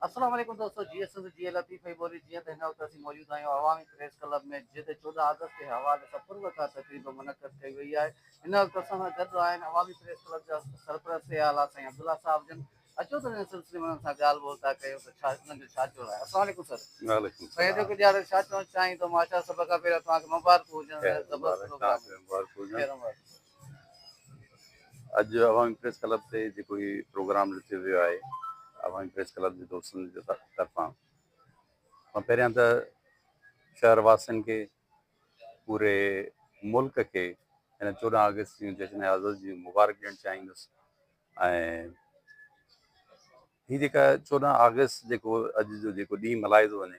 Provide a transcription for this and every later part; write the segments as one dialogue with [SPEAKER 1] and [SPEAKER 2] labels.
[SPEAKER 1] السلام عليڪم دوستو جيئي سنڌ جيئي لطيف ۽ ٻولي جيئن ته هن وقت اسين موجود آهيون عوامي پريس ڪلب ۾ جتي چوڏهن آگسٽ تي حوالي سان پر وقار تقريب منعقد ڪئي وئي آهي هن وقت اسان سان گڏ آهن عوامي پريس ڪلب جا سرپرست سي اعليٰ سائين عبدالله صاحب جن اچو ته هن سلسلي ۾ انهن سان ڳالهه ٻولهه ٿا ڪيون ته ڇا انهن جو ڇا چوڻ آهي السلام عليڪم سر وعليڪم سائين السلام ايڊوڪيٽ
[SPEAKER 2] يار ڇا
[SPEAKER 1] چوڻ چاهين
[SPEAKER 2] ٿو
[SPEAKER 1] ماشاء سڀ کان پهريان توهان کي مبارڪون هجن مبارڪ زبردست توهان پروگرام کي مبارڪ هجن خير
[SPEAKER 2] مبارڪ
[SPEAKER 1] اڄ
[SPEAKER 2] عوامي پريس ڪلب تي جيڪو هي پروگرام رٿيو ويو آهي عوامي پريس ڪلب جي دوستن جي طرفان مان پهريان ته شهر واسين کي پوري ملڪ کي هن چوڏهن آگسٽ جي جشن آزاد جي مبارڪ ڏيڻ چاهيندس ۽ هي جيڪا چوڏهن آگسٽ جيڪو اڄ جو جيڪو ڏينهن ملهايو ٿو وڃي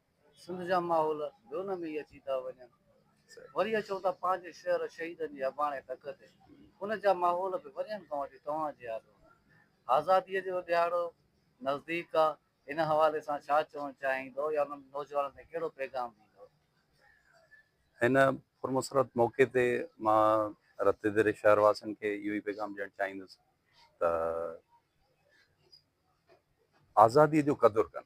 [SPEAKER 1] سنڌ جا ماحول ڀرون ۾ ئي اچي ٿا وڃن. وري اچون ٿا پنهنجي شهر شهيدن جي اباڻي ڍڪ تي. ان جا ماحول به وريون کان وٺي توهان جي آڏو آهن. آزاديء جو ڏهاڙو نزديڪ آ، ان حوالي سان ڇا چوڻ چاهيندؤ يا انهن نوجوانن کي ڪهڙو پيغام ڏيندؤ؟
[SPEAKER 2] هن پرمسرت موقعي تي مان رت ڌري شهر واسين کي اهو ئي پيغام ڏيڻ چاهيندس ته آزاديء جو قدر ڪن.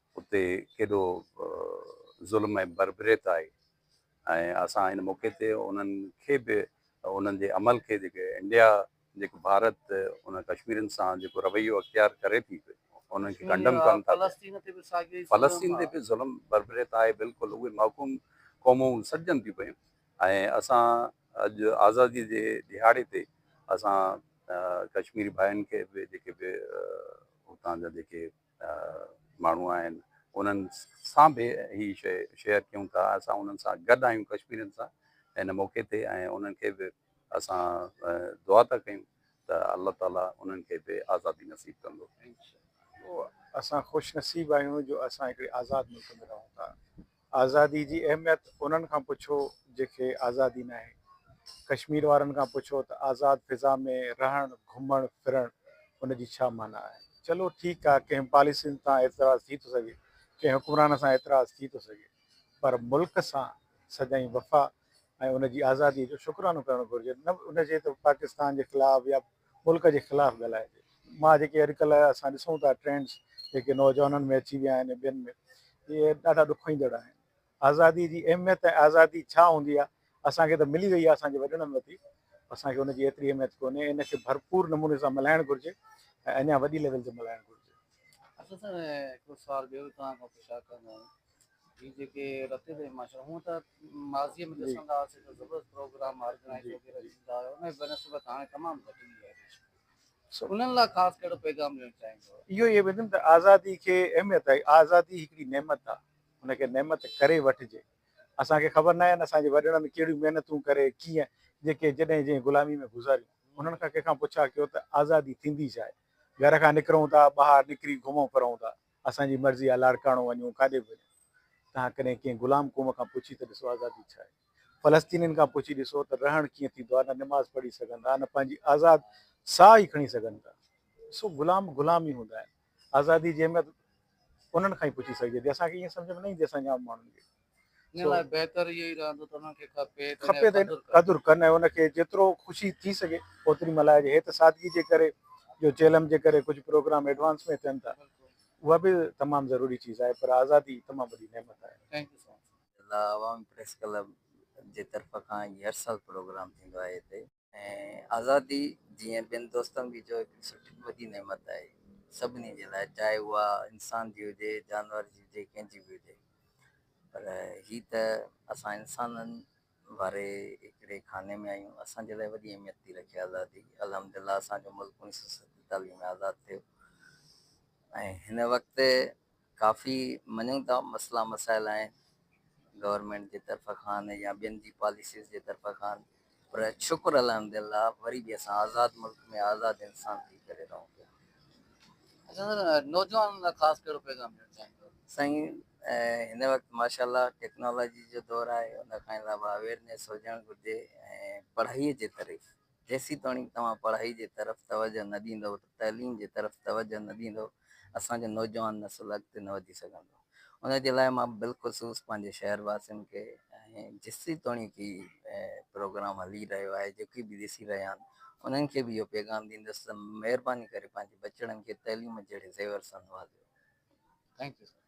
[SPEAKER 2] اتي ڪيڏو ظلم ۽ بربريت آهي ۽ اسان هن موقعي تي انهن کي به انهن جي عمل کي جيڪي انڊيا جيڪو ڀارت انهن ڪشميرين سان جيڪو رويو اختيار ڪري ٿي انهن کي ڪنڊم ڪرڻ ٿا فلسطين تي به ساڳيو فلسطين تي به ظلم بربريت آهي بلڪل اهي محڪوم قومون سڏجن ٿيون پيون ۽ اسان اڄ آزادي جي ڏهاڙي تي اسان ڪشميري ڀائين کي به جيڪي به اتان جا جيڪي ماڻهو آهن انهن سان به هي شيء شيئر ڪيون ٿا اسان انهن سان گڏ آهيون ڪشميرين سان هن موقعي تي ۽ انهن کي به اسان دعا ٿا ڪيون ته الله تعالي انهن کي به آزادي نصيب ڪندو
[SPEAKER 3] اسان خوش نصيب آهيون جو اسان هڪڙي آزاد ملڪ ۾ رهون ٿا آزادي جي اهميت انهن کان پڇو جيڪي آزادي ناهي. ڪشمير وارن کان پڇو ته آزاد فضا ۾ رهڻ، گهمڻ ڦرڻ ان جي ڇا معنيٰ آهي. چلو ٺيڪ آهي ڪنهن پاليسين تان اعتراض ٿي ٿو سگهي، ڪنهن حڪمران سان اعتراض ٿي ٿو سگهي پر ملڪ سان سدائين وفا ۽ ان جي آزادي جو شڪرانو ڪرڻ گهرجي نه ان جي ته پاڪستان جي خلاف يا ملڪ جي خلاف ڳالهائجي. مان جيڪي اڄڪلهه اسان ڏسون ٿا ٽرينڊز جيڪي نوجوانن ۾ اچي ويا آهن ۽ ٻين ۾ اهي ڏاڍا ڏک ايندڙ آهن. آزادي جي اهميت ۽ آزادي ڇا هوندي آهي اسان کي ته ملي وئي آهي اسان جي وڏڙن وتي اسان کي ان جي ايتري اهميت ڪونهي ان کي ڀرپور نموني سان ملهائڻ گهرجي ۽ اڃا وڏي ليول تي ملهائڻ گهرجي. اسان سان
[SPEAKER 1] هڪڙو سوال ٻيو توهان کان پڇا ڪندو آهيان. هي جيڪي رتي تي ماشاءالله هونء ته ماضي ۾ جي ڏسندا هئاسين ته زبردست پروگرام آرگنائيز جي وغيره ٿيندا هيا انهي بنسبت هاڻي تمام گهٽ ٿي ويا آهن سو انهن لاء خاص ڪهڙو پيغام ڏيڻ چاهيندو؟ اهو ئي ويندم ته
[SPEAKER 3] آزادي کي اهميت آهي آزادي هڪڙي نعمت آهي ان کي نعمت ڪري وٺجي اسان کي خبر ناهي اسان جي وڏڙن ڪهڙيون محنتون ڪري ڪيئن جيڪي جڏهن جنهن غلامي ۾ گذاريون انهن کان ڪنهن کان پڇا ڪيو ته آزادي ٿيندي ڇا آهي گهر کان نڪرون ٿا ٻاهر نڪري گهمون ڦرون ٿا اسان جي مرضي آ لاڙڪاڻو وڃون ڪاڏي به وڃون تهان ڪڏهن ڪنهن غلام قوم کان پڇي ته ڏسو آزادي ڇا آهي فلسطينين کان پڇي ڏسو ته رهڻ ڪيئن ٿيندو آهي نه نماز پڙهي سگهن ٿا نه پنهنجي آزاد ساهه ئي کڻي سگهن ٿا ڏسو غلام غلام ئي هوندا آهن آزادي جي اهميت انهن کان ئي پڇي سگهجي ٿي اسان کي ائين سمجهه ۾ نه ايندي اسان جي عام ماڻهن کي ان لاء بهتر اهو ئي رهندو ته انهن کي ڪا پيت ۽ کپي ته قدر ڪن. قدر ڪن ۽ ان کي جيترو خوشي ٿي سگهي اوتري ملهائجي. هيء ته سادگي جي ڪري جو چيلم جي ڪري ڪجهه پروگرام ايڊوانس ۾ ٿين ٿا بلڪل. اها به تمام ضروري چيز آهي پر آزادي تمام وڏي نعمت آهي. Thank you so much.
[SPEAKER 1] الله عوامي پريس ڪلب جي طرف کان هي هر سال پروگرام ٿيندو آهي هتي. ۽ آزادي جيئن ٻين دوستن به چيو هڪڙي سٺي وڏي نعمت آهي سڀني جي لاء چاهي اها انسان جي هجي جانور جي هجي ڪنهن جي به هجي پر هي
[SPEAKER 4] ته اسان انسانن واري هڪڙي خاني ۾ آهيون اسان جي لاء وڏي اهميت ٿي رکي آزادي الحمد لله اسان جو ملڪ انيس سو ستيتاليهه ۾ آزاد ٿيو ۽ هن وقت ڪافي مڃون ٿا مسئلا مسائل آهن گورنمينٽ جي طرف کان يا ٻين جي پاليسيز جي طرف کان پر شڪر الحمد لله وري به اسان آزاد ملڪ ۾ آزاد انسان ٿي ڪري رهون پيا. اچا
[SPEAKER 1] سر نوجوانن لاء خاص ڪهڙو پيغام ڏيڻ چاهيندو. سائين
[SPEAKER 4] هن وقت ماشاءالله ٽيڪنالاجي جو دور آهي ان کان علاوه اويرنيس هجڻ گهرجي ۽ پڙهائي جي طرف جيسيتوڻيڪ توهان پڙهائي جي طرف توجه نه ڏيندؤ ته تعليم جي طرف توجه نه ڏيندؤ اسان جو نوجوان نسل اڳتي نه وڌي سگهندو ان جي لاء مان بالخصوص پنهنجي شهر واسين کي ۽ جيسيتوڻيڪ هي پروگرام هلي رهيو آهي جيڪي به ڏسي رهيا آهن انهن کي به اهو پيغام ڏيندس ته مهرباني ڪري پنهنجي ٻچڙن کي تعليم جهڙي زيور سان نوازيو. Thank
[SPEAKER 1] you sir.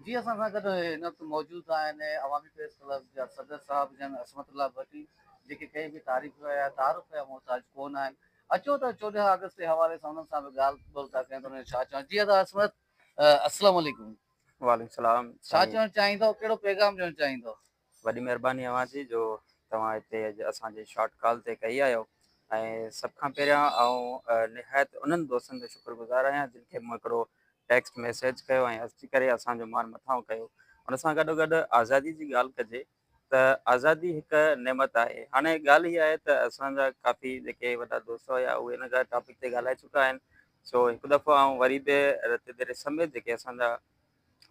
[SPEAKER 1] جي اسان سان گڏ هن وقت موجود آهن عوامي پريس ڪلب جا صدر صاحب جن عصمت الله ڀٽي جيڪي ڪنهن به تعريف يا تعارف جا محتاج ڪونه آهن اچو ته چوڏهن آگسٽ جي حوالي سان انهن سان به ڳالهه ٻولهه ٿا ڪيون ته انهن جو ڇا چوڻ جي ادا عصمت السلام عليڪم. وعليڪم السلام.
[SPEAKER 5] ڇا چوڻ چاهيندؤ
[SPEAKER 1] ڪهڙو پيغام ڏيڻ چاهيندؤ. وڏي مھرباني
[SPEAKER 5] اوھان جي جو توھان ھتي اڄ اسان جي شارٽ ڪال تي ڪئي آھيو ۽ سڀ کان پھريان آئون نھايت انھن دوستن جو شڪر گذار آھيان جن کي مون ھڪڙو ٽيڪسٽ ميسيج ڪيو ۽ اچي ڪري اسان جو مان مٿانھون ڪيو ان سان گڏو گڏ آزادي جي ڳالھ ڪجي ته آزادي ھڪ نعمت آھي ھاڻي ڳالھ ھي آھي ته اسان جا ڪافي جيڪي وڏا دوست ھيا اھي ان ڳالھ ٽاپڪ تي ڳالھائي چڪا آھن سو ھڪ دفعو آئون وري به رتيدر سميت جيڪي اسان جا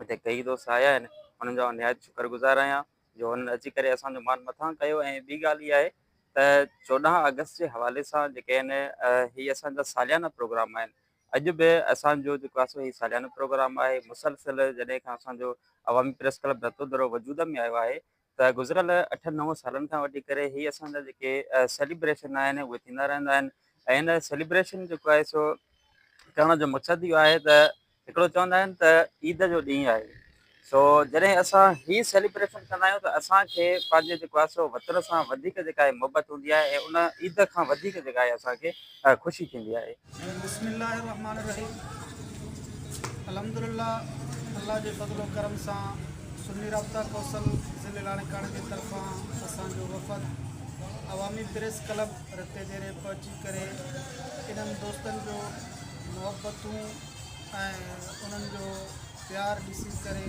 [SPEAKER 5] هتي ڪيئي دوست آيا آهن انهن جو آئون نهايت شڪر گذار آهيان جو انهن اچي ڪري اسان جو مان مٿان ڪيو ۽ ٻي ڳالهه اها آهي ته چوڏهن آگسٽ جي حوالي سان جيڪي آهن هي اسان جا ساليانا پروگرام آهن اڄ به اسان جو جيڪو آهي سو هي ساليانو پروگرام آهي مسلسل جڏهن کان اسان جو عوامي پريس ڪلب رتودرو وجود ۾ آيو آهي ته گذريل اٺن نون سالن کان وٺي ڪري هي اسان جا جيڪي سيليبريشن آهن اهي ٿيندا رهندا آهن ۽ هن سيليبريشن جيڪو آهي سو ڪرڻ جو مقصد اهو آهي ته هڪڙو چوندا آهن ته عيد جو ڏينهن آهي سو جڏهن اسان هي سيليبريشن ڪندا آهيون ته اسان کي پنهنجي جيڪو آهي سو وطن سان وڌيڪ جيڪا آهي محبت هوندي آهي ۽ ان عيد کان وڌيڪ جيڪا آهي اسان کي خوشي ٿيندي آهي بسم الله الرحمٰن
[SPEAKER 6] الرحيم الحمد لله الله جي فضل و ڪرم سان سني رابطه ڪوسل ضلعي لاڙڪاڻي جي طرفان اسان جو وفد Awami press club Ratodero پهچي ڪري انهن دوستن جو محبتون ۽ انهن جو پيار ڏسي ڪري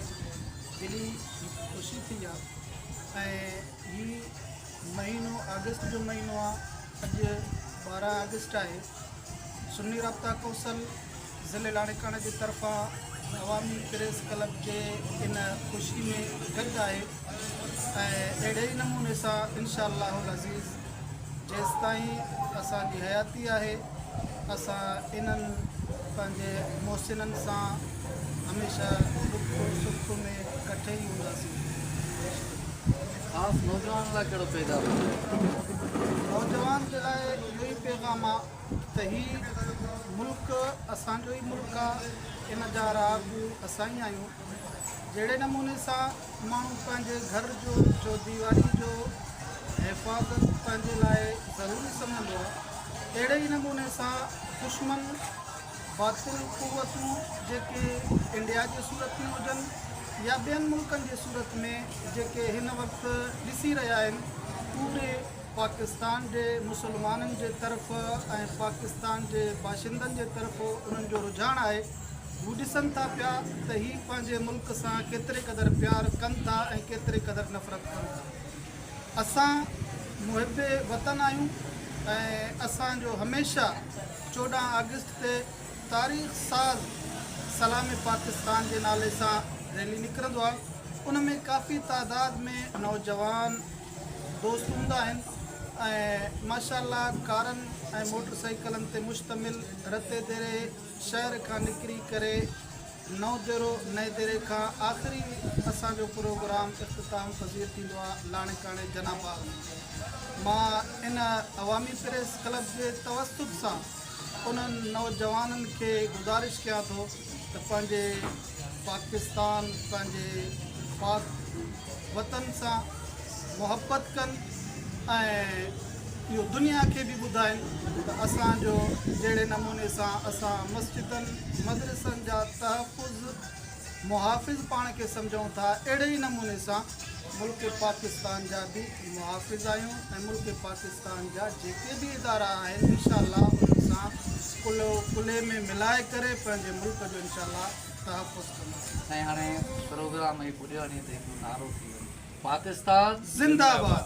[SPEAKER 6] دلي خوشي ٿي آ ۽ هي مهينو آگسٽ جو مهينو آ اڄ ٻارهن آگسٽ آهي، سني رابطا ڪونسل ضلعي لاڙڪاڻي جي طرفان عوامي پريس ڪلب جي ان خوشي ۾ گڏ آهي ۽ اهڙي ئي نموني سان انشاء الله العزيز جيستائين اسان جي حياتي آهي اسان انهن پنهنجي محسنن سان هميشه ڏک سک ۾ ڪٺي ئي هونداسين. خاص
[SPEAKER 1] نوجوانن لاء ڪهڙو پيغام هجي؟ نوجوان
[SPEAKER 6] جي لاء اهو ئي پيغام آ ته هي ملڪ اسان جو ئي ملڪ آ ان جا رهاڪو اسان ئي آهيون جهڙي نموني سان ماڻهو پنهنجي گهر جو چوديواري جو حفاظت پنهنجي لاء ضروري سمجهندو آ تهڙي ئي نموني سان دشمن باطل قوتون جيڪي انڊيا جي صورت ۾ هجن يا ٻين ملڪن جي صورت ۾ جيڪي هن وقت ڏسي رهيا آهن اهي پاڪستان جي مسلمانن جي طرف ۽ پاڪستان جي باشندن جي طرف انهن جو رجحان آهي هو ڏسن ٿا پيا ته هي پنهنجي ملڪ سان ڪيتري قدر پيار ڪن ٿا ۽ ڪيتري قدر نفرت ڪن ٿا اسان محب وطن آهيون ۽ اسان جو هميشه چوڏهن آگسٽ تي تاريخ ساز سلام پاڪستان جي نالي سان ريلي نڪرندو آهي ان ۾ ڪافي تعداد ۾ نوجوان دوست هوندا آهن ۽ ماشاء الله ڪارن ۽ موٽر سائيڪلن تي مشتمل رتي ديري شهر کان نڪري ڪري نو جهرو نئين ديري کان آخري اسان جو پروگرام اختتام پذير ٿيندو آ لاڻيڪاڻي جناح باغ ۾ مان ان عوامي پريس ڪلب جي توسط سان انهن نوجوانن کي گذارش ڪيان ٿو ته پنهنجي پاڪستان پنهنجي پاڪ وطن سان محبت ڪن ۽ اهو دنيا کي به ٻڌائين ته اسان جو جهڙي نموني سان اسان مسجدن مدرسن جا تحفظ محافظ پاڻ کي سمجهون ٿا اهڙي ئي نموني سان ملڪ پاڪستان جا به محافظ آهيون ۽ ملڪ پاڪستان جا جيڪي به ادارا آهن انشاء الله انهن سان ڪلهو ڪلهي ۾ ملائي ڪري پنهنجي ملڪ جو انشاء الله تحفظ ڪنداسين. سائين هاڻي
[SPEAKER 1] پروگرام هي پڄيو وڃي ته هڪڙو نعرو ٿي
[SPEAKER 6] وڃي
[SPEAKER 1] پاڪستان زندهه باد.